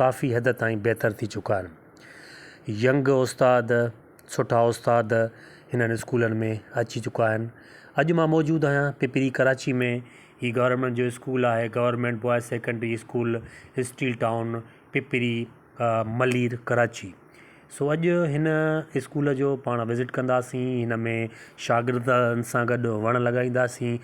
ڪافي حد تائين بهتر ٿي چڪا آهن. ينگ استاد، سٺا استاد هنن اسڪولن ۾ اچي چڪا آهن. اڄ مان موجود آهيان پپري ڪراچي ۾ هي گورنمينٽ جو اسڪول آهي government boys secondary school steel town Pipri Malir Karachi. So اڄ هن اسڪول جو پاڻ وزٽ ڪنداسين هن ۾ شاگردن سان گڏ وڻ لڳائينداسين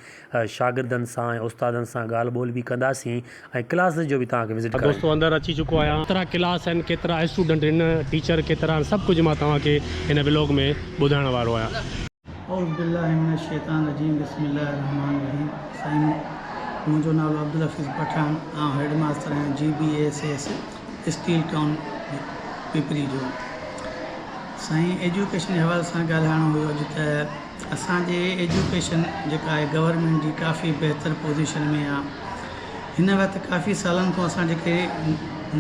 شاگردن سان ۽ استادن سان ڳالهه ٻولهه به ڪنداسين ۽ ڪلاس جو به توهان کي وزٽ ڪرائينداسين. دوستو اندر اچي چڪو آهيان ڪيترا ڪلاس آهن ڪيترا اسٽوڊنٽ آهن ٽيچر ڪيترا آهن سڀ ڪجهه مان توهان کي هن ولاگ ۾ ٻڌائڻ وارو آهيان. اعوذ بالله من الشيطان الرجيم بسم الله الرحمٰن الرحيم سائين منهنجو نالو عبدالحفيظ پٺاڻ آئون هيڊ ماستر آهيان G B S S steel town Pipri جو سائين ايجوڪيشن جي حوالي سان ڳالهائڻو هيو اڄ ته اسانجي ايجوڪيشن جيڪا آهي گورنمينٽ جي ڪافي بهتر پوزيشن ۾ آهي هن وقت ڪافي سالن کان اسان جيڪي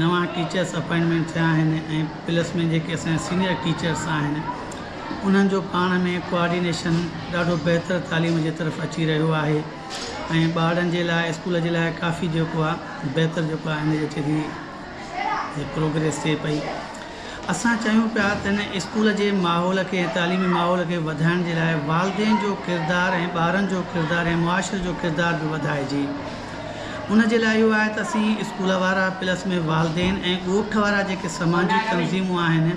نوان ٽيچرس اپائنٽمينٽ ٿيا آهن ۽ پلس ۾ جيڪي اسانجا سينيئر ٽيچرس آهن انهن جو پاڻ ۾ ڪوآرڊينيشن ڏاڍو بهتر تعليم جي طرف اچي رهيو آهي ۽ ٻارڙن جي لاء اسڪول جي لاء ڪافي جيڪو آهي بهتر جيڪو آهي هن جي اچي ٿي ۽ پروگريس ٿئي پئي اسان چيون پيا ته هن اسڪول جي ماحول کي تعليمي ماحول کي وڌائڻ جي لاء والدين جو ڪردار ۽ ٻارن جو ڪردار ۽ معاشري جو ڪردار به وڌائجي ان جي لاء اهو آهي ته اسين اسڪول وارا پلس ۾ والدين ۽ ڳوٺ وارا جيڪي سماجي تنظيمون آهن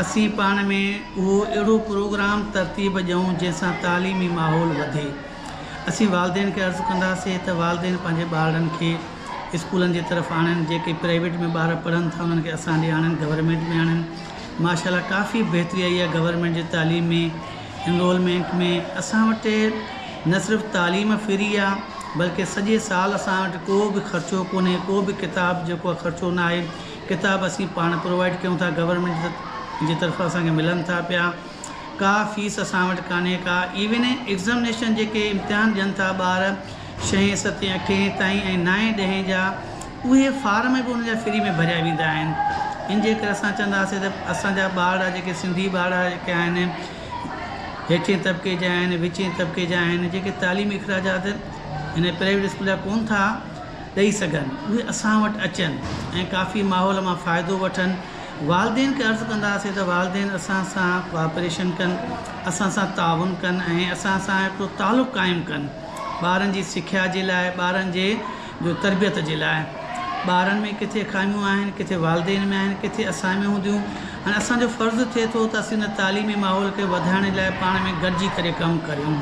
اسين پاڻ ۾ اهو اهڙو پروگرام ترتيب ڏيون جنهن سان تعليمي ماحول وڌي اسين والدين کي عرض ڪنداسين ته والدين پنهنجي ٻارڙن کي اسڪولن جي طرف آڻن جيڪي پرائيويٽ ۾ ٻار پڙهن ٿا انهن کي اسان ڏي آڻن گورنمينٽ ۾ آڻن ماشا الله ڪافي بهتري آئي آهي گورنمينٽ جي تعليم ۾ انرولمينٽ ۾ اسان وٽ نه صرف تعليم فري آ بلڪه سڄي سال اسان وٽ ڪو به خرچو ڪونهي ڪو به ڪتاب جيڪو خرچو ناهي ڪتاب اسين پاڻ پرووائيڊ ڪيون ٿا گورنمينٽ جي طرفان اسان کي ملن ٿا پيا ڪا فيس اسان وٽ ڪانهي ڪا ايون ايگزامينيشن جيڪي امتحان ڏين ٿا ٻار شئين ستين اٺين تائين ۽ نائين ڏهين جا اهي فارم به ان جا فري ۾ ڀريا ويندا آهن ان جي ڪري اسان چونداسين ته اسان جا ٻارڙا جيڪي سنڌي ٻارڙا جيڪي آهن هيٺين طبقي جا آهن وچين طبقي جا آهن جيڪي تعليمي اخراجات هن پرائيويٽ اسڪول جا ڪون ٿا ڏئي سگهن، اهي اسان وٽ اچن ۽ ڪافي ماحول مان فائدو وٺن، والدين کي عرض ڪنداسين ته والدين اسان سان ڪوآپريشن ڪن، اسان سان تعاون ڪن ۽ اسان سان هڪڙو تعلق قائم ڪن، ٻارن جي سکيا جي لاء، ٻارن جي جو تربيت جي لاء، ٻارن ۾ ڪٿي خاميون آهن، ڪٿي والدين ۾ آهن، ڪٿي اسان ۾ هونديون آهن، اسان جو فرض ٿئي ٿو ته اسين ان تعليمي ماحول کي وڌائڻ جي لاء پاڻ ۾ گڏجي ڪري ڪم ڪريون.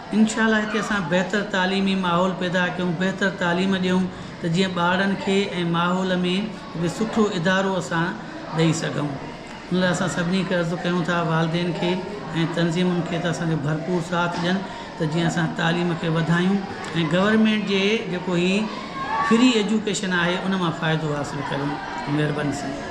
انشاء الله هتي اسان بهتر تعليمي ماحول پيدا ڪيون بهتر تعليم ڏيون ته جيئن ٻارڙن کي ۽ ماحول ۾ هڪ سٺو ادارو اسان ڏئي سگهون ان لاء اسان سڀني کي عرض ڪيون ٿا والدين کي ۽ تنظيمن کي ته اسانکي ڀرپور ساٿ ڏين ته جيئن اسان تعليم کي وڌايون ۽ گورنمينٽ جي جيڪو هي فري ايجوڪيشن آهي ان مان فائدو حاصل ڪريون مهرباني سائين.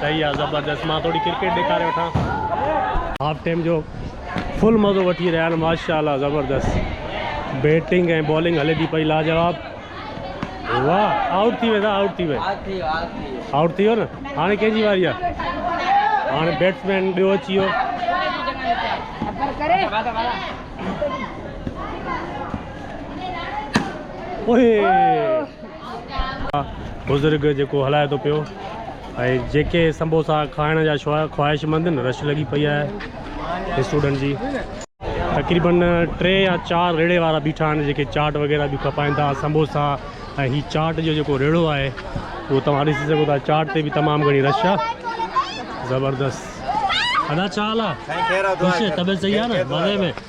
صحيح آ زبردست مان ٿوري ڪرڪيٽ ڏيکاري وٺان هاف ٽيم جو فل مزو وٺي رهيا آهن ماشاءالله زبردست بيٽنگ ۽ بالنگ هلي ٿي پئي لاجواب واهه آؤٽ ٿي ويندا آؤٽ ٿي وي آؤٽ ٿي ويو نه هاڻي ڪنهن جي واري آهي هاڻي بيٽسمين ٻيو اچي ويو اوهي بزرگ جيڪو هلائي ٿو پيو ۽ جيڪي سمبوسا کائڻ جا خواهش مند آهن رش لڳي پئي آهي اسٽوڊنٽ جي تقريبن ٽي يا چار ريڙي وارا بيٺا آهن جيڪي چاٽ وغيرہ به کپائن ٿا سمبوسا ۽ هي چاٽ جو جيڪو ريڙو آهي اهو توهان ڏسي سگهو ٿا چاٽ تي به تمام گهڻي رش آهي زبردست ادا ڇا حال آهي طبيعت صحيح آهي نه مزي ۾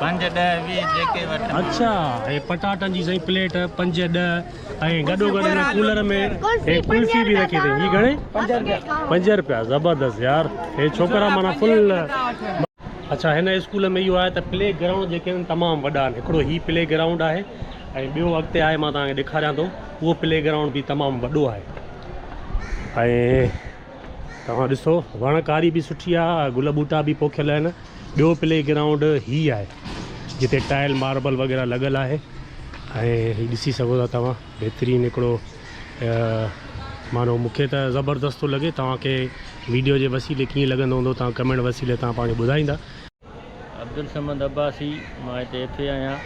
پنج ڏهه ويهه جيڪي وٺن اڇا هي پٽاٽن جي سائين پليٽ پنج ڏهه ۽ گڏو گڏ هن ڪولر ۾ هي ڪلفي به رکي اٿي هي گهڻي پنج روپيا زبردست يار هي ڇوڪرا مانا فل اڇا هن اسڪول ۾ اهو آهي ته پلي گرائونڊ جيڪي آهن تمام وڏا آهن هڪڙو هي پلي گرائونڊ آهي ۽ ٻيو اڳتي آهي مان توهان کي ڏيکاريان ٿو اهو پلي گرائونڊ به تمام وڏو آهي ۽ توهان ڏسو وڻ ڪاري به سٺي آهي گل ٻوٽا به پوکيل آهن ٻيو پلي گرائونڊ هي آهي جتي ٽائل ماربل وغيره لڳل آهي ۽ ڏسي سگهو ٿا توهان بهترين هڪڙو مانو مون کي ته زبردست ٿو لڳي توهان کي ويڊيو جي وسيلي ڪيئن لڳندو هوندو توهان ڪمينٽ وسيلي توهان پاڻ ٻڌائيندا عبدالصمد عباسي مان هتي ايف اي آهيان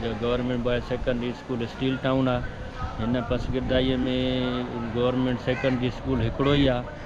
جو government boys secondary school steel town آهي هن پسگردائيء ۾ گورنمنٽ سيڪنڊري اسڪول هڪڙو ئي آهي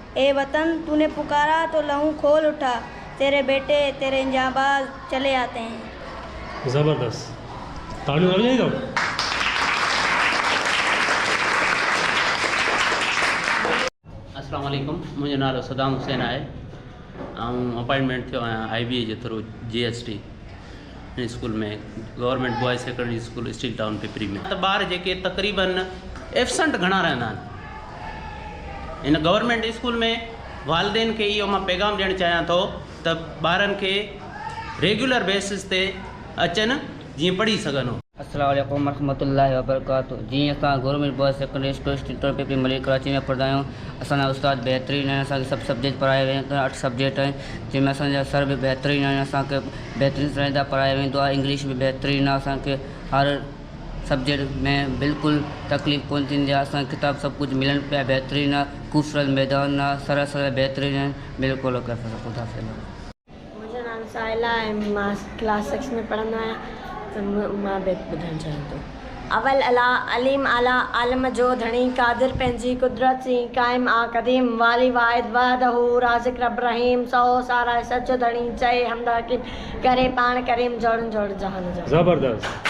اي وطن تو ني پڪارا تو لهون کول اٺا تيري بيٽي تيري انجانباز چلي آتي هين. زبردست تاڙيون ضرور ڏيندؤ. اسلام عليڪم منهنجو نالو صدام حسين آهي آئون اپائنٽمينٽ ٿيو آهيان آئي بي اي جي through G S T. School ۾ government boys secondary school steel town Pipri ۾ ته ٻار جيڪي تقريبن ايبسنٽ گهڻا رهندا آهن ان گورنمينٽ اسڪول ۾ والدين کي اهو مان پيغام ڏيڻ چاهيان ٿو ته ٻارن کي ريگيولر بيسز تي اچن جيئن پڙهي سگهن السلام عليڪم ورحمة الله وبرڪاته جي اسان گورنمينٽ بوائز سيڪنڊري اسڪول اسٽيٽور پي پي ملير ڪراچي ۾ پڙھندا آھيون اسان جا استاد بھترين آھن اسان کي سڀ سبجيڪٽ پڙھايا ويا آھن اٺ سبجيڪٽ آھن جنھن ۾ اسان جا سر به بھترين آھن اسان کي بھترين طرح سان پڙھايا ويندو آھي انگلش به بھترين آھي اسان کي ھر سبجيڪٽ ۾ بلڪل تڪليف ڪون ٿيندي آھي اسان کي ڪتاب سڀ ڪجھ ملن پيا بھترين آھي خوبصورت ميدان آھي سر اسان جا بھترين آھن بلڪل اوڪي خدا حافظ منهنجو نالو ساحل آهي ۽ مان ڪلاس سڪس ۾ پڙهندو آهيان ته مان بيت ٻڌڻ چاهيان ٿو. اول الاء، عليم اعليٰ، عالم جو ڌڻي، قادر پنهنجي قدرت سين، قائم آ قديم، والي واحد وحده، رازق رب رحيم، سهو ساراهي سچ جو ڌڻي، چئي حمد حڪيم، ڪري پاڻ ڪريم، جوڙن جوڙ جهان جا. زبردست.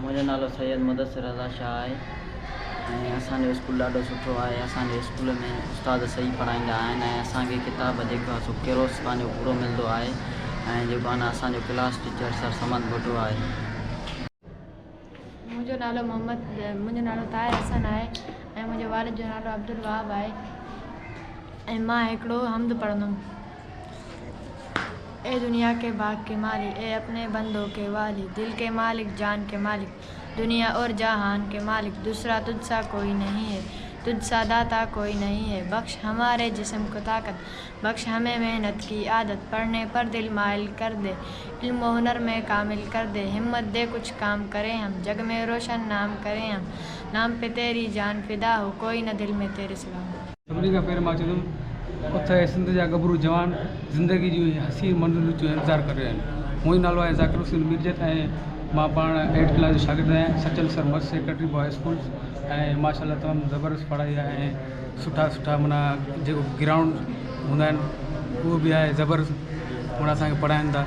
منهنجو نالو سيد مدثر رضا شاهه آهي ۽ اسان جو اسڪول ڏاڍو سٺو آهي اسان جي اسڪول ۾ استاد صحيح پڙهائيندا آهن ۽ اسان کي ڪتاب جيڪو آهي سو ڪيروس خان جو پورو ملندو آهي ۽ جيڪو آهي نه اسان جو class teacher sir Samad Bhutto آهي. منهنجو نالو محمد منهنجو نالو طاهر حسن آهي ۽ منهنجي والد جو نالو عبدالوهاب آهي ۽ مان هڪڙو حمد پڙهندم. اي دنيا ڪي باغ ڪي مالڪ اي اپني بندو ڪي والي دل ڪي مالڪ جان ڪي مالڪ دنيا اور جهان ڪي مالڪ دوسرا تجھ سا ڪوئي نهين هي تجھ سا داتا ڪوئي نهين هي بخش هماري جسم ڪو طاقت بخش همي محنت ڪي عادت پڙهني پر دل مائل ڪر دي علم و هنر مي ڪامل ڪر دي همت دي ڪجھ ڪام ڪرين هم جگ مي روشن نام ڪرين هم نام پي تيري جان فدا هو ڪوئي نه دل مي تيري سوا هو. سڀني کان پهرين مان چوندم اٿ اي سنڌ جا ڳڀرو جوان زندگي جون اهي حسين منزلون جو انتظار ڪري رهيا آهن منهنجو نالو آهي ذاڪر حسين ميرجت ۽ مان پاڻ ايٽ ڪلاس جو شاگرد آهيان Sachal Sarmast secretary boys school ۽ ماشاء الله تمام زبردست پڙهائي آهي ۽ سٺا سٺا منا جيڪو گرائونڊ هوندا آهن اهو بي آهي زبردست منا اسان کي پڙهائين ٿا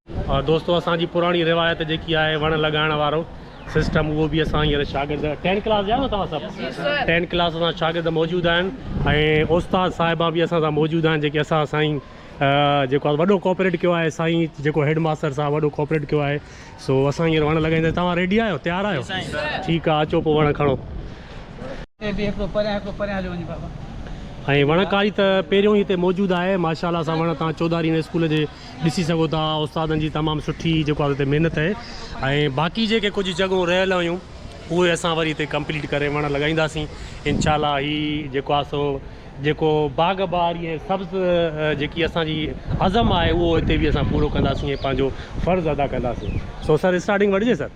دوستو اسان جي پراڻي روايت جيڪي آهي وڻ لڳائڻ وارو سسٽم اهو به اسان هينئر شاگرد ٽين ڪلاس جا آهيو توهان سڀ ٽين ڪلاس سان شاگرد موجود آهن ۽ استاد صاحبا به اسان سان موجود آهن جيڪي اسان سائين جيڪو آهي وڏو ڪوپريٽ ڪيو آهي سائين جيڪو هيڊ ماستر صاحب وڏو ڪوپريٽ ڪيو آهي سو اسان هينئر وڻ لڳائينداسين توهان ريڊي آهيو تيار آهيو ٺيڪ آهي اچو پوء وڻ کڻو ۽ وڻڪاري ته پهريون هتي موجود آهي ماشاء الله سان وڻ تان چوڌاري اسڪول جي ڏسي سگهو ٿا استادن جي تمام سٺي جيڪو آهي اتي محنت آهي ۽ باقي جيڪي ڪجهه جڳهون رهيل هيون اهي اسان وري اتي ڪمپليٽ ڪري وڻ لڳائينداسين انشاء الله هي جيڪو آهي سو جيڪو باغ بهاري ۽ سبز جيڪي اسان جي عزم آهي اهو هتي به اسان پورو ڪنداسين ۽ پنهنجو فرض ادا ڪنداسين سو سر اسٽارٽنگ وٺجي سر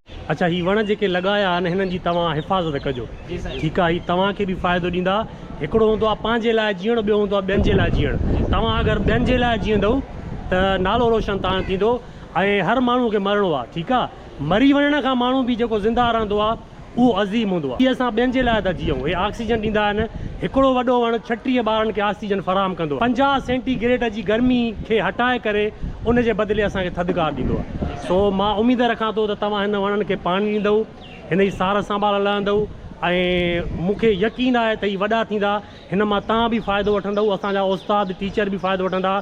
اڇا هي وڻ جيڪي لڳايا آهن هنن جي توهان حفاظت ڪجو ٺيڪ آ هي توهان کي به فائدو ڏيندا هڪڙو هوندو آ پنهنجي لاء جيئڻ ٻيو هوندو آ ٻين جي لاء جيئڻ توهان اگر ٻين جي لاء جيئندؤ ته نالو روشن تهان ٿيندو ۽ هر ماڻهو کي مرڻو آ ٺيڪ آ مري وڃڻ کان ماڻهو به جيڪو زنده رهندو آ اهو عظيم هوندو آ اسان ٻين جي لاء ٿا جيئون هي آڪسيجن ڏيندا آهن هڪڙو وڏو وڻ ڇٽيهه ٻارن کي آڪسيجن فراهم ڪندو آ پنجاهه سينٽي گريڊ جي گرمي کي هٽائي ڪري ان جي بدلي اسان کي ٿڌڪار ڏيندو آ. سو مان اميد رکان ٿو ته توهان هن وڻن کي پاڻي ڏيندؤ، هن جي سار سنڀال لهندؤ ۽ مون کي يقين آهي ته هي وڏا ٿيندا، هن مان توهان به فائدو وٺندؤ، اسان جا استاد، ٽيچر به فائدو وٺندا.